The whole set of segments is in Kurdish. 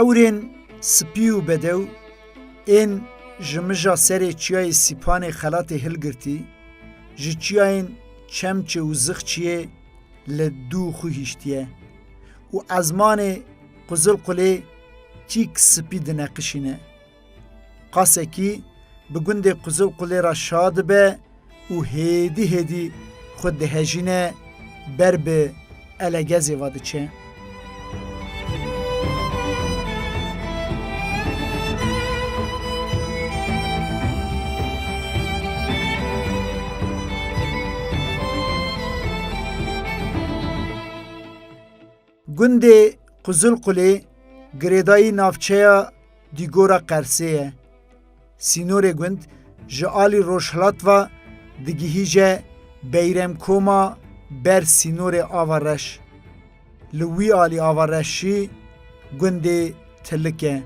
Ewrên spî û bedew ên ji mija serê çiyayê Sîpanê xelatê hilgirtî, ji çiyayên Çemçê û Zixçiyê li dû xwî hiştiye û ezmanê Qizilqulê Çîk spî dineqişîne. Qasekî bi gundê Quzu Qulê ra şa dibe û hêdî hêdî xwe dihejîne ber bi Elegezê ve diçe. Gundê Qizilqulê girêdayî navçeya Dîgora Qersê ye. Sînorê gund ji alî rojhilat ve digihîje Beyremkoma ber sînorê Ava Reş. Li wî alî Ava Reşî gundê Tilik e.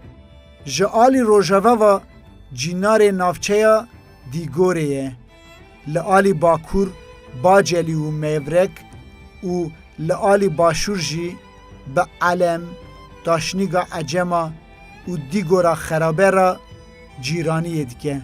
Ji alî rojeve ve cînarê navçeya Dîgorê ye. Li alî Bakur, Bacelî û Mêvrek û li alî Başûr jî bi Elem, Taşnîga Ecema û Dîgora Xerabe re cîraniyê dike.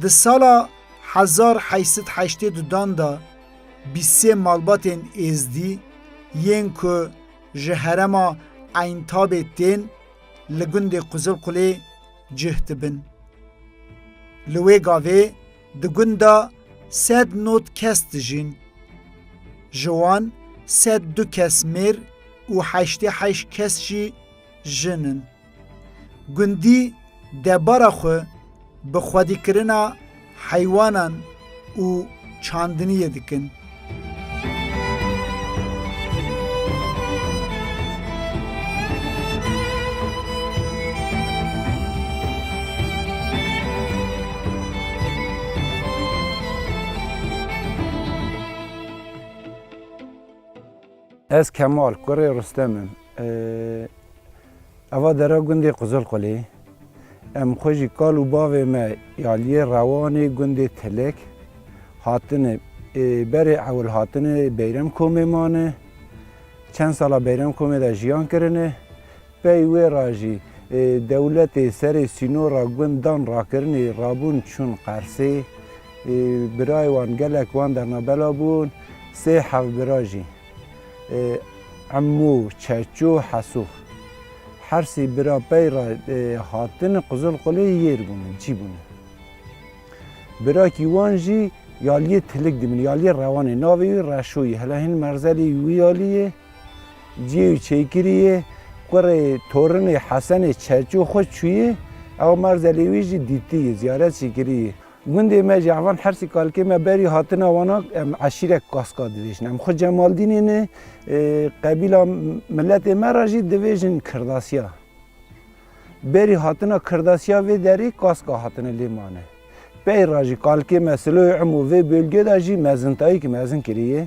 Di sala hezar heşt sed heştê dudan de, Bîst sê malbatên Êzdî yên ku ji herema Eyntabê tên li gundê Quzilqulê cih dibin. Li wê gavê di gunda sed nod kes dijîn. Ji wan sed du kes mêr û heştê heşt kes jî jin in. Gundî debara xwe bi xwedîkirina heywanan û çandiniyê dikin. Ez Kemal, kurê Rustem im. Eva dera gundê Qizilqulê. Em xwe jî kal û bavê me aliyê rewanê gundê Tilek hatine. Berê ewil hatine Beyrem komê mane. Çend sala Beyrem komê de jiyan kirine. Pey wê ra jî dewletê serê sînora gundan rakirinê rabûn çûn Qersê. Birayê wan gelek wan derna bela bûn. Sê hevbira jî Emû, Çeçû, Hesû. Her sî bira pey ra hatin Qizilxulê yêr bûne, cî bûne. Birakî wan jî Yaliyê Tilik dimîne, Yaliyê Rewanê. Navê wî Reşo yê. Hela hîn merzelî wî yalî yê. Ciyê û çêkiriyê kurê torinê Hesenê Çerçû xwe çûyê, ew Marzelê wî jî dîtiyê, ziyaret jî kiriyê. Gundê me ji hevan Hersî kalkê me berî hatina wan a em eşîret Kaska dibêjin. Em xwe Cemaldînê ne, qebîla miletê me re jî dibêjin Kirdasiya. Berî hatina Kirdasiya vê derê Kaska hatine lê mane. Pey re jî kalkê me Siloyê Imo vê bölge de jî mezintayîk mezin kiriyê.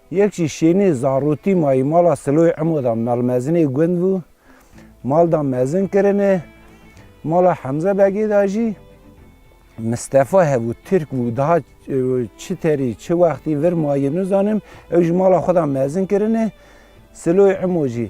Yek jî şênê zarotî mayî mala Siloyê Emo da Melmezinê gund bû. Mal da mezin kirine. Mala Hemze Begê da jî Mistefa hebû, Tirk bû. Daha çi terî, çi wextî vir mayî nizanim. Ew jî mala xwe da mezin kirine. Siloyê Emo jî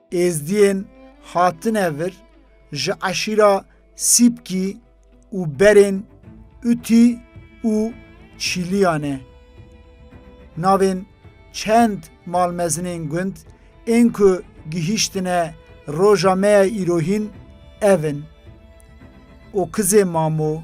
Êzdiyên hatine vir ji eşîra Sîpkî û berên Utî û Çîliya ne. Navên çend malmezinên gund ên ku gihîştine roja me ya îrohîn ev in, Okizê Mamo,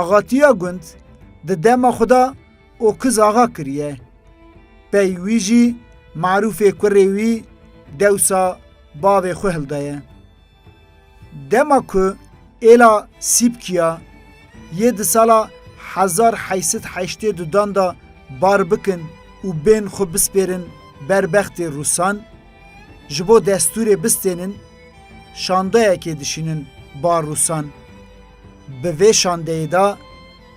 Axatiya gund di dema xwe de Okiz Axa kiriye. Pey wî jî Marûfê kurê wî dewsa bavê xwe hildaye. Dema ku êla Sîpkiya yê di sala hezar heşt sed heştê du dan de bar bikin û bên xwe bispêrin ber bextê Rûsan, ji bo destûrê bistênin şandeyekê dişînin bar Rûsan. Bi vê şandeyê de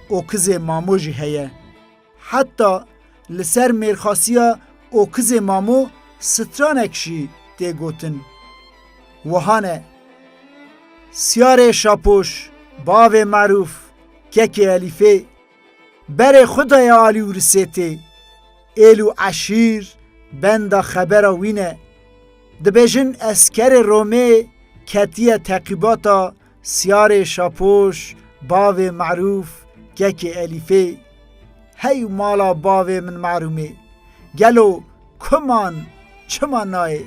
Okizê Mamo jî heye. Heta li ser mêrxasiya Okizê Mamo stranek jî tê gotin. Wiha ne. Siyarê Şapoş, bavê Merûf, kekê Elîfê, berê xwe daye alî û Risêtê. Êl û eşîr benda xebera wî ne. Dibêjin eskerê Romê ketiye teqîbata Siyarê Şapoş, bavê Merûf, kekê Elîfê, Hey mala bavê min Merûmê, gelo ku man çima nayê?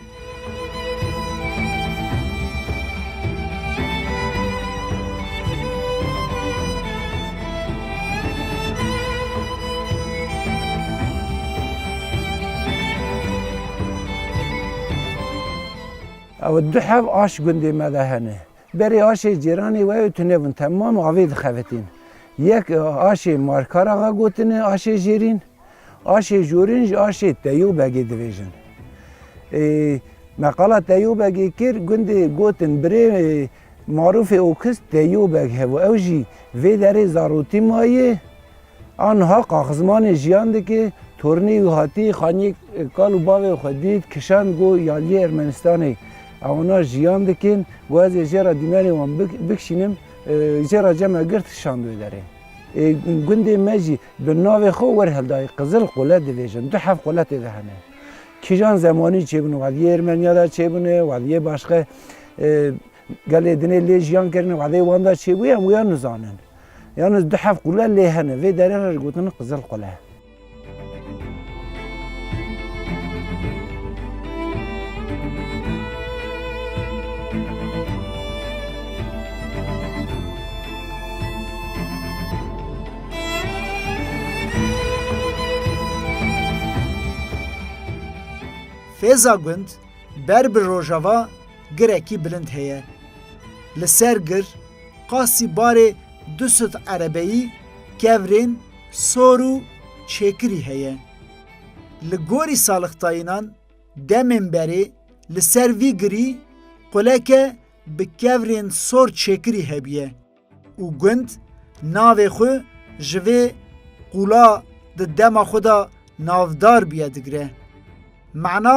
Ew du hev aş gundê me de hene. Berê aşê cêranê we û tune bûn temam avê dixevetîn. Yek aşê Markar Axa gotine aşê jêrîn, aşê jorîn ji aşê Teyû Begê divêjin. Ê me qala Teyû Begê kir, gundê gotin birê marûfê Okiz Teyû Beg hev û ew jî vê derê zarotî mayê Aniha Qaxizmanê jiyandikê tornê wî hatî xaniyê kal û bavê xwe dît, kişand got, Yaliyê Ermenistanê ewana jiyan dikin û ez ê jê re dîmenê wan bikişînim, jê re cem e girt kişand wê derê. Ê gundê me jî bi navê xwe werheldayî Qizil Qule dibêjin, du heft quletê de hene. Kîjan zemanî çêbûn, Waliyê Ermeniya de çêbûne, Waliyê Başxe Gelê dinê lê jiyan kerine wexdê wan da çêbûye em wiya nizanin. Yalnız du heft qule lê hene vê derê re ji gotin Qizil Qule. Fêza gund ber bi rojava Girekî bilind heye. Li ser gir qasî barê du sed erebeyî, kevrên, sor û çêkirî heye. Li gorî salixtayînan demên berê li ser vî girî quleke bi kevrên sor çêkirî hebûye. û gund navê xwe ji vê qûla di dema xwe de navdar bûye digire. Mana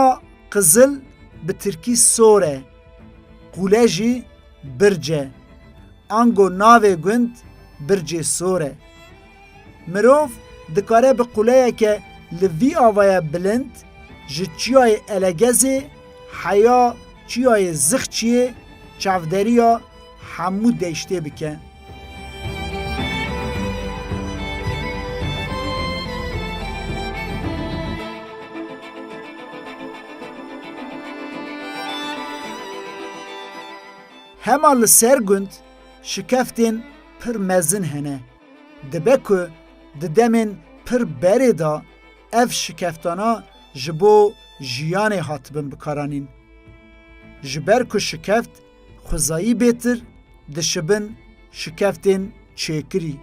qizil bi tirkî sor e, qûle jî birc e. Ango navê gund Bircê Sor e. Mirov dikare bi qûleyeke li vî avaya bilind ji Çiyayê Elegezê heya Çiyayê Zixçiyê çavderiya Hemû deştê bike. Hema li ser gund şikeftên pir mezin hene. Dibe ku di demên pir berê de ev şikeftana ji bo jiyanê hatibin bikaranîn. Ji ber ku şikeft Xwezayî bêtir dişibin şikeftên çêkirî.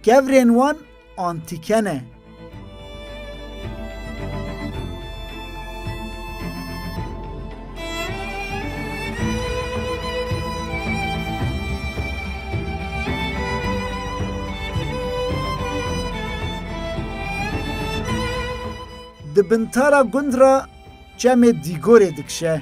Kevrên wan antîke ne. Di bintara gund ra çemê Dîgorê dikişe.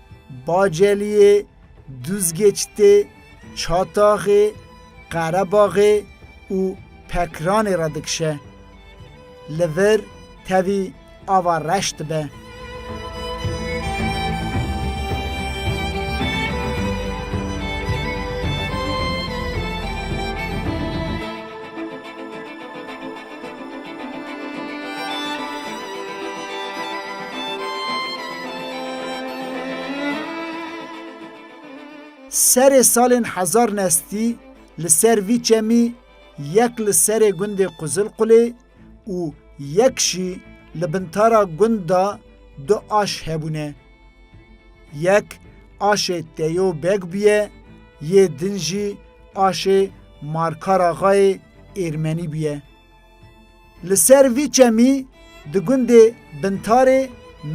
Baceliyê, Duzgeçtê, Çataxê, Qerebaxê û Pekranê re dikişe. Li vir tevî ava reş dibe. Serê salên hezar nestî li ser vî çemî yek li serê gundê Quzilqulê û yek jî li bin tara gund de du aş hebûne. Yek aşê Teyo Beg bûye, yê din jî aşê Markaraxayê Êrmenî bûye. Li ser vî çemî di gundê Bintarê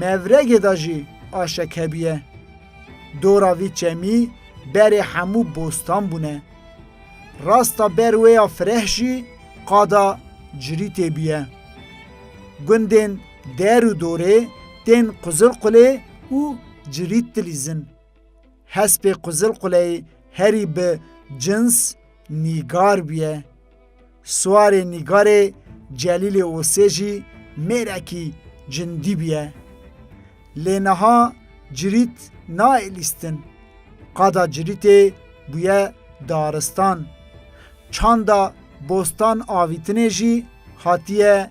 Mevregê de jî aşek hebûye. Dora vî çemî berê hemû bostan bûne. Rasta ber wê ya fireh jî qada cirîtê bûye. Gundên Der û dorê tên quzil qulê û cilît dilîzin. Hespê quzil quleyê herî bi cins nîgar bûye. Swarê nîgarê Celîlê Osê jî mêrekî cindî bûye. Lê niha cilît nayê lîstin. Qada cilîtê bûye daristan. Çanda bostan avîtinê jî hatiye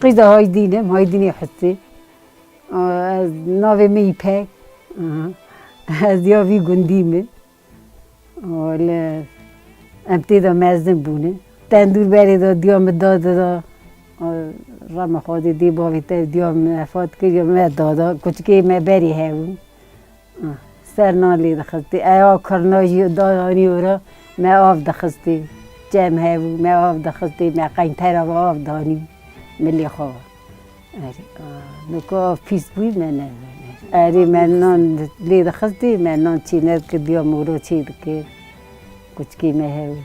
Qîda Haydîn im, Haydînê Husî. Ez navê min Îpek. Ez ya vî gundî me. Li MT de mezin bûne. Tendûr berê de diya min dade de rama xwedê dê bavê te diya min vefat kir ya min dada. Kuçikê me berê hebûn. Serna lê dixistî ewa kirina jî da anî were me av dixistî çem hebû me av dixistî me qeyntera ve av danî milê xwe nûka av pîs bû me ne erê me nan lê dixistî me nan çî nedikidiya mûra çê dikir kuçikê me hebû.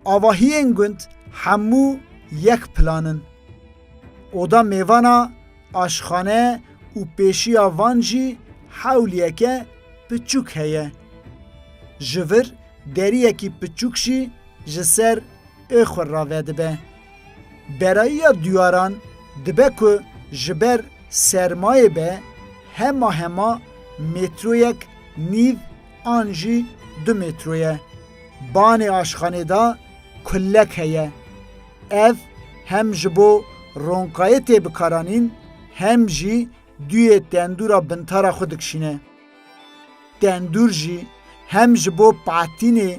Avahiyên gund hemû yek plan in. Oda mêvana, aşxane û pêşiya van jî hewliyeke piçûk heye. Ji vir deriyekî piçûk jî ji ser ê xwe rave dibe. Berayiya duyaran dibe ku ji ber sermayê be hema hema mêtroyek nîv an jî du mêtro ye. Banê aşxanê de kullek heye. Ev hem ji bo ronkayê têbikaranîn hem jî duyê tendûra bintara xwe dikişîne. Tendûr jî hem ji bo patînê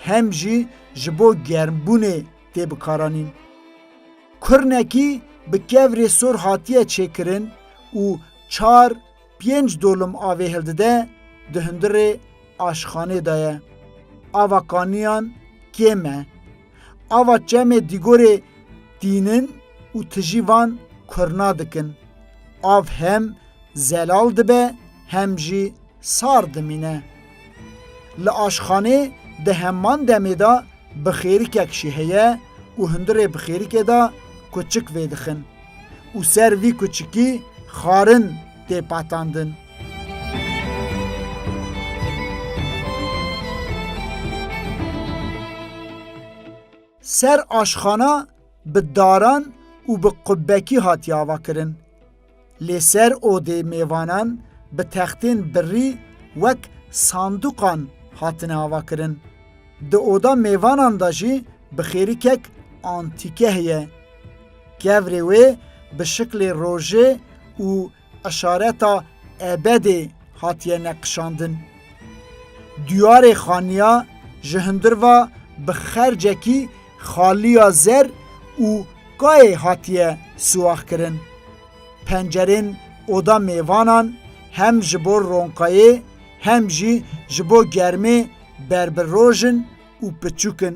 hem jî ji bo germbûnê tê bikaranîn. Kurnekî bi kevrê sor hatiye çêkirin û çar pênc dolim avê hildide di hundirê aşxanê de ye. Ava kaniyan kêm e. Ava çemê dîgorê tînin û tijî van kurna dikin. Av hem zelal dibe hem jî Sar dimîne. Li aşxanê di heman demê de bi xêrikek jî heye û hundirê bi xêrikê de kuçik vêdixin û ser vî kuçikî xarin tê patandin. Ser aşxana bi daran û bi qubbekî hatiye avakirin. Li ser odê mêvanan bi textên birrî wek sandûqan hatine avakirin. Di oda mêvanan de jî bi xêrikek antîke heye. Kevrê wê bi şiklê rojê û işareta ebedê hatiye neqişandin. Diyarê Xaniya ji hundir ve bi xercekî xaliya zer û kayê hatiye siwaxkirin. Pencerên oda mêvanan hem ji bo ronkayê hem jî ji bo germê ber bi roj in û piçûk in.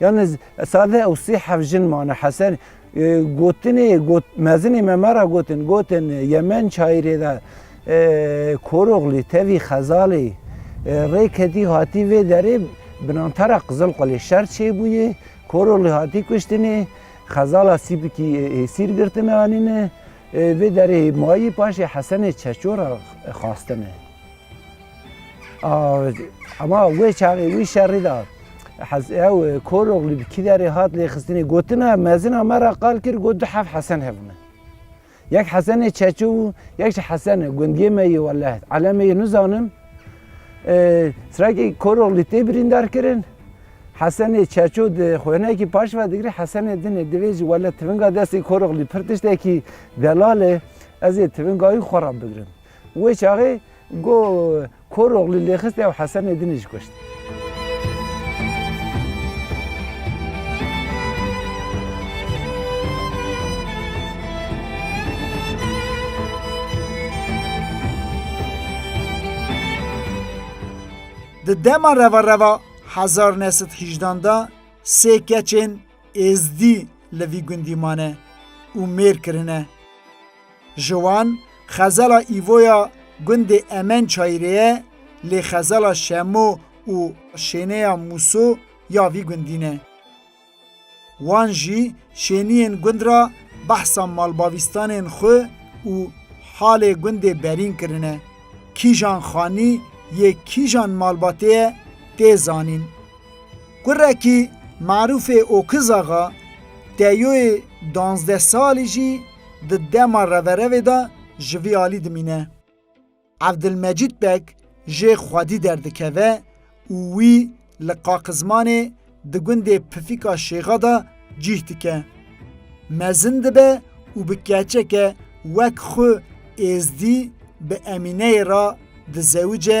Yalnî sade ew sê heft jin mane Hesen gotinê got mezinê me me ra gotin gotin Yemen çayîrê de Koroglî tevî Xezalê rê ketî hatî vê derê binantara Qizilqulê şer çêbûyê Koroglî hatî kuştinê Xezala Sîpikî êsîr girtine anîne vê derê mayî paşê Hesenê Çeçor re xwastine. Hema wê çaxê wî şerî da hez ew Koroglî bi kî derê hat lêxistinê gotina mezina me ra qal kir got du heft Hesen hebûne. Yek Hesenê Çeçû bû, yek jî Hesene gundiyê me yê Welehe. Elemê yê nizanim. Sirakê Koroglî tê birîndar kirin. Hesenê Çeçû di xwênekî paş ve digirê Hesenê dinê divê jî wele tivinga destê Koroglî pir tiştekî delal e. Ez ê tivinga wî xwe re bigirim. Wê çaxê go Koroglî lêxist ew Hesenê din î jî kuşt. Di dema revereva hezar neh sed hîjdan de sê keçên êzdî li vî gundî mane û mêr kirine. Ji wan xezala Îvoya gundê Emen Çayirê ye lê xezala Şemo û Şêneya Mûso ya vî gundî ne. Wan jî şêniyên gund ra behsa malbavîstanên xwe û halê gundê berîn kirine. Kîjan xanî yê kîjan malbatê ye tê zanîn. Kurekî Marûfê Okizaxa Teyoyê danzdeh salî jî, di dema reverevê de ji vî alî dimîne. Evdilmecîd Beg jê xwedî derdikeve û wî li Qaqizmanê di gundê Pifîka Şêxa de cîh dike. Mezin dibe û bi keçeke wek xwe êzdî bi Emîneyê re dizewice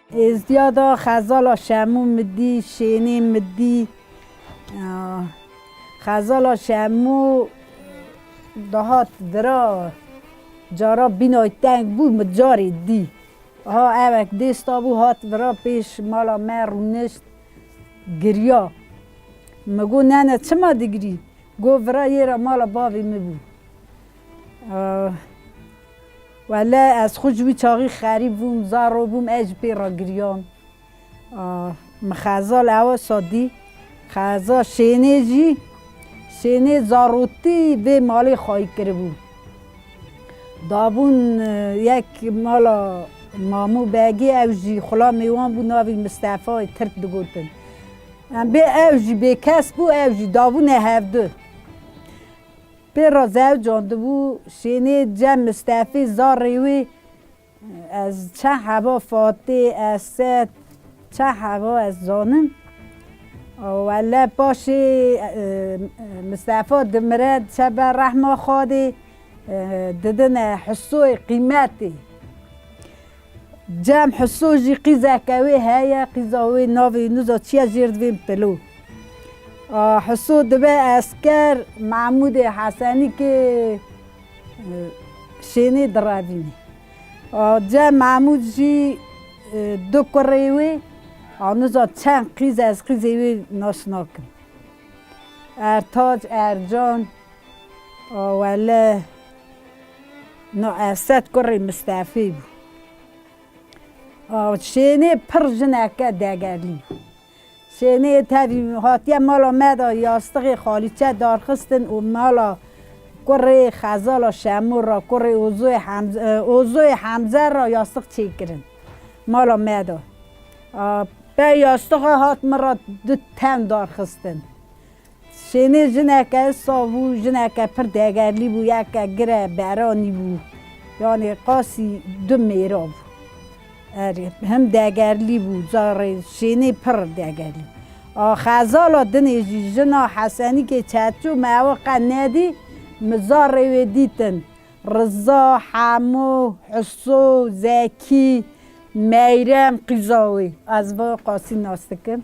Êzdiya da xezala Şemû Midî Şênê Midî Xezala Şemû dihat dira cara bînay teng bû min carê dî ha ewek dêsta bû hat vira pêş mala me rûnişt giriya min got nene çima digirî got vira yê re mala bavê min bû. Wele ez xwe ji wî çaxî xerîb bûm, zaro bûm, ez ji pê re giriyam. Min xezal ewe şadî, xeza şênê jî, şênê zarotî vê malê xayî kiribû. Dabûn yek mala Mamu Begî, ew jî xula mêwan bû, navî Mistefayê Tirk digotin. Em bê ew jî bêkes bû, ew jî dabûne hevdu. Pêra zewcan dibû şênê cem Mistefî zarê wî ez çend heva Fatî, Esed çend heva ez zanim û wele paşê Mistefa dimire diçebe rehma Xwedê didine Husûyê qîmetê. Cem Huso jî qîzeke wê heye, qîza wê navê Yunuz e, çiye Jêrdivên Pilo. Huso dibe esker Mehmûdê Hesenî kê şênê direvînê. Cem Mehmûd jî du kurê wê a Nuza çend qîz e ez qîzê wê nas nakim. Ertac, Ercan, Wele. Nuesset kurê Mistefê bû. Şênê pir jineke degerlî bû. Şênê tevî hatiye mala me de yastixê xalîçe darxistin û mala kurê Xezala Şemûr re kurê Ozoyê Hemze re yastix çêkirin mala me de. Pey yastixa hat min re du tewn darxistin. Şênê jineke saf bû, jineke pir degerlî bû, yeke gire beranî bû, yanê qasî du mêra bû. Erê, him degerlî bû, carê şênê pir degerlî bû. A xezala dinê jî jina Hesenîkê çerçû me ew qe nedî, mi carê wê dîtin. Riza, Hemo, Huso, Zekî, Meyrem qîza wê. Ez bi qasî nas dikim.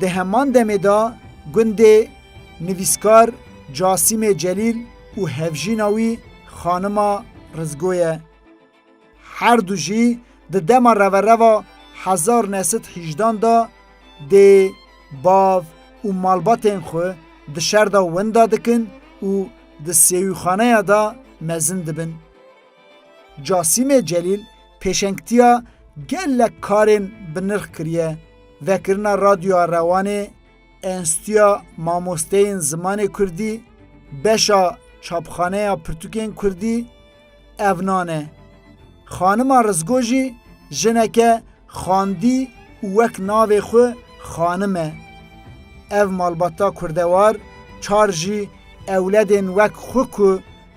Di heman demê de gundê nivîskar Casîmê Celîl û hevjîna wî xanima Rizgo ye. Her du jî di dema revereva hezar u neh sed û hîjdan de dê, bav û malbatên xwe di şer de winda dikin û di sêwîxaneya de mezin dibin. Casîmê Celîl pêşengtiya gelek karên bi nirx kiriye, vekirina Radyoya Rewanê, Enstîtuya Mamosteyên Zimanê Kurdî, beşa Çapxaneya Pirtûkên Kurdî ev nan e. Xanima Rizgo jî jineke xandî û wek navê xwe xanim e. Ev malbata kurdewar çar jî ewledên wek xwe ku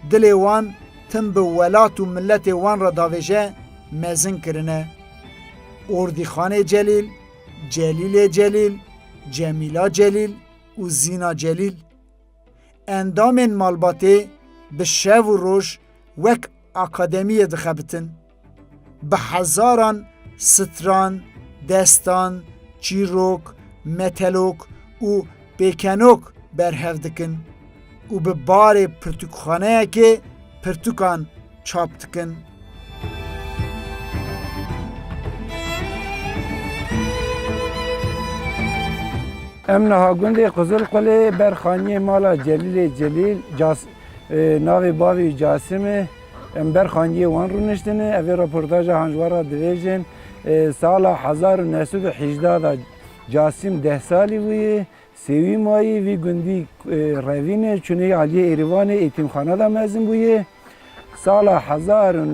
Dilê wan tim bi welat û miletê wan re davêje mezin kirine. Ordîxanê Celîl, Celîlê Celîl, Cemîla Celîl û Zîna Celîl. Endamên malbatê bi şev û roj wek akademiyê dixebitin. Bi hezaran stran, destan, çîrok, metelok û pêkenok berhev dikin û bi barê pirtûkxaneyekê pirtûkan çap dikin. Em niha gundê Qizilqulê ber xaniyê mala Celîlê Celîl, navê bavê Casimê, Em ber xangiyê wan rûniştin e. Ev ê reportaja hanjwar ra dibêjin. Sala hezar û neh sed û hîjda de Casîm deh salî bûye. Sêwî mayî vî gundî Revînê çûnê aliyê Êrîvanê Îtîmxana de mezin bûye. Sala hezar û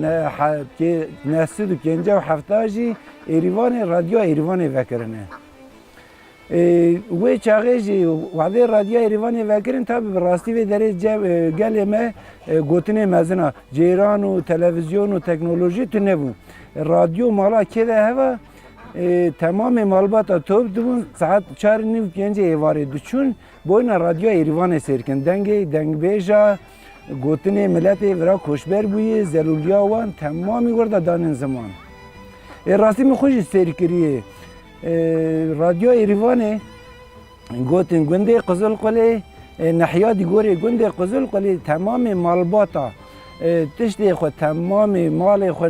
neh sed û pênceh û hefta jî Êrîvanê Radyoya Êrîvanê vekirine. Wê çaxê jî wexdê Radyoya Êrîvanê vekirin tabî bi rastî vê derê gelê me gotinê mezin a. Ceyran û televîzyon û teknolojî tu nebû. Radyo mala kê de heva temamê malbata top dibûn saet çar nîv pêncê êvarê diçûn boyna Radyoya Êrîvanê sêr kirin. Dengê dengbêja gotinê miletê vira koçber bûyê zelûliya wan temamî wir de danên ziman. Rastî min xwe jî sêr kiriyê. Radyoya Êrîvanê gotin gundê Qizilqulê nehiya di gorê gundê Qizilqulê temamê malbata tiştê xwe temamê malê xwe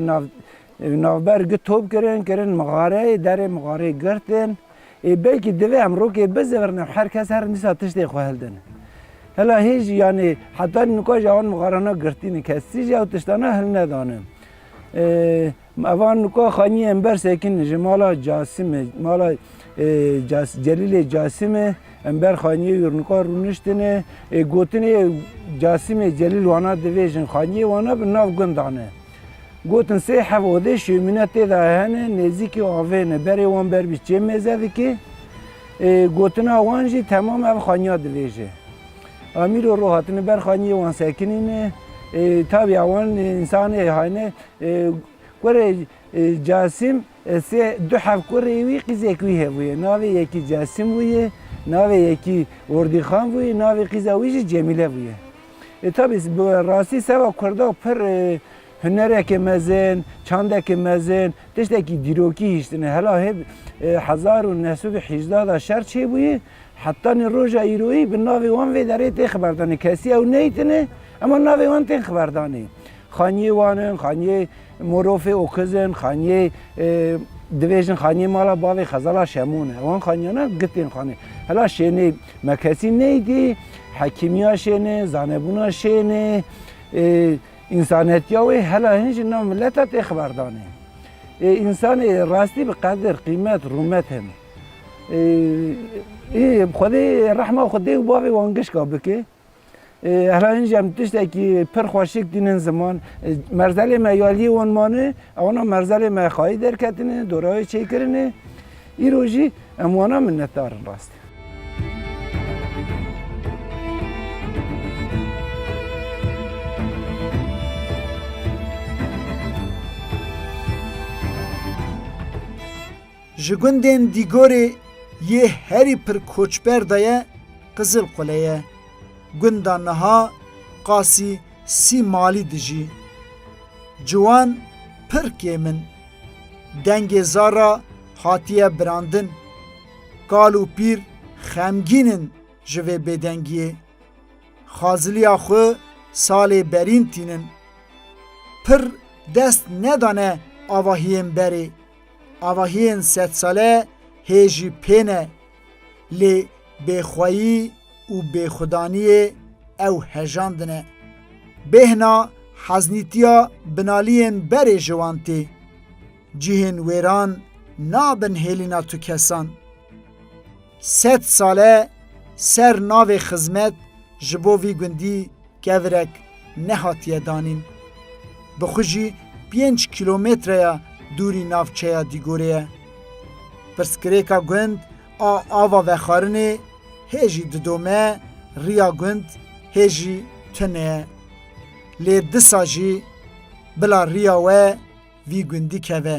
navber gi top kirin kirin mixareyê derê mixareyê girtin ê belkî divê em rokê bizivrin her kes her dîsa tiştê xwe hildin hela hê jî yanê heta nika jî wan mixarana girtîne kesî jî ew tiştana hilnedanin. Evan nuka xaniyên ber sekin ji mala Casimê, mala Celîlê Casimê em ber xaniyê û nuka rûniştine. Ê gotinê Casimê Celîl wana divêjin xaniyê wana bi nav gund dane. Gotin sê hev odê şêmîne tê de hene nêzîkî avê ne. Berê wan ber bî çê mêze dikê. Ê gotina wan jî temam ev xaniya divêje. Amîro ro hatine ber xaniyê wan sekinîne. Ê tabî ewan însanê hayne Kurê Casîm sê du hevkurê wî qîzek wî hebûye. Navê yekî Casîm bûye, navê yekî Ordîxan bûye, navê qîza wî jî Cemîle bûye. Tabî bi rastî seva kurda pir hunerekê mezin, çandekê mezin, tiştekî dîrokî hiştine. Hela hêv hezar û neh sed û hîjda de şer çêbûye. Heta nê roja îroyî bi navê wan vê derê tê xiberdanê. Kesî ew neytine ema navê wan tên xiberdanê. Xaniyê wan in, xaniyê Morofê Okiz in, xaniyê dibêjin xaniyê mala bavê Xezala Şemûn e. Wan xaniyana gi tên xanê. Hela şênê me kesî neydî, hekîmiya şênê, zanebûna şênê, însanetiya wê hela hin jî nav mileta tê xiberdanê. Ê însanê rastî bi qedir, qîmet, rûmet in. Xwedê rehma xwe dê û bavê wan gişka bike. Helayin jî em tiştekî pir xwe şik tînin ziman. Merzelê me ya liyê wan mane, wana merzelê me xayî derketine, dorewê çêkirine. Îro jî em wana minnetdar in rastî. Ji gundên Dîgorê yê herî pir koçber de ye Qizilqule ye. Gunda niha qasî sî malî dijî. Ciwan pir kêm in. Dengê zar re hatiye birandin. Kal û pîr xemgîn in ji vê bêdengiyê. Xaziliya xwe salê berîn tînin. Pir dest nedane avahiyên berê. Avahiyên sedsale hê jî pê ne, lê bêxweyî û bêxwedaniyê ew hejandine. Bêhna heznîtiya binaliyên berê ji wan tê. Cihên wêran nabin hêlîna tu kesan. Sed sale ser navê xizmet ji bo vî gundî kevirek nehatiye danîn. Bi xwe jî pênc kîlometreya dûrî navçeya Dîgorê ye. Pirsgirêka gund a ava vexwarinê hê jî didome, riya gund hê jî tune ye. Lê disa jî bila riya we vî gundî keve.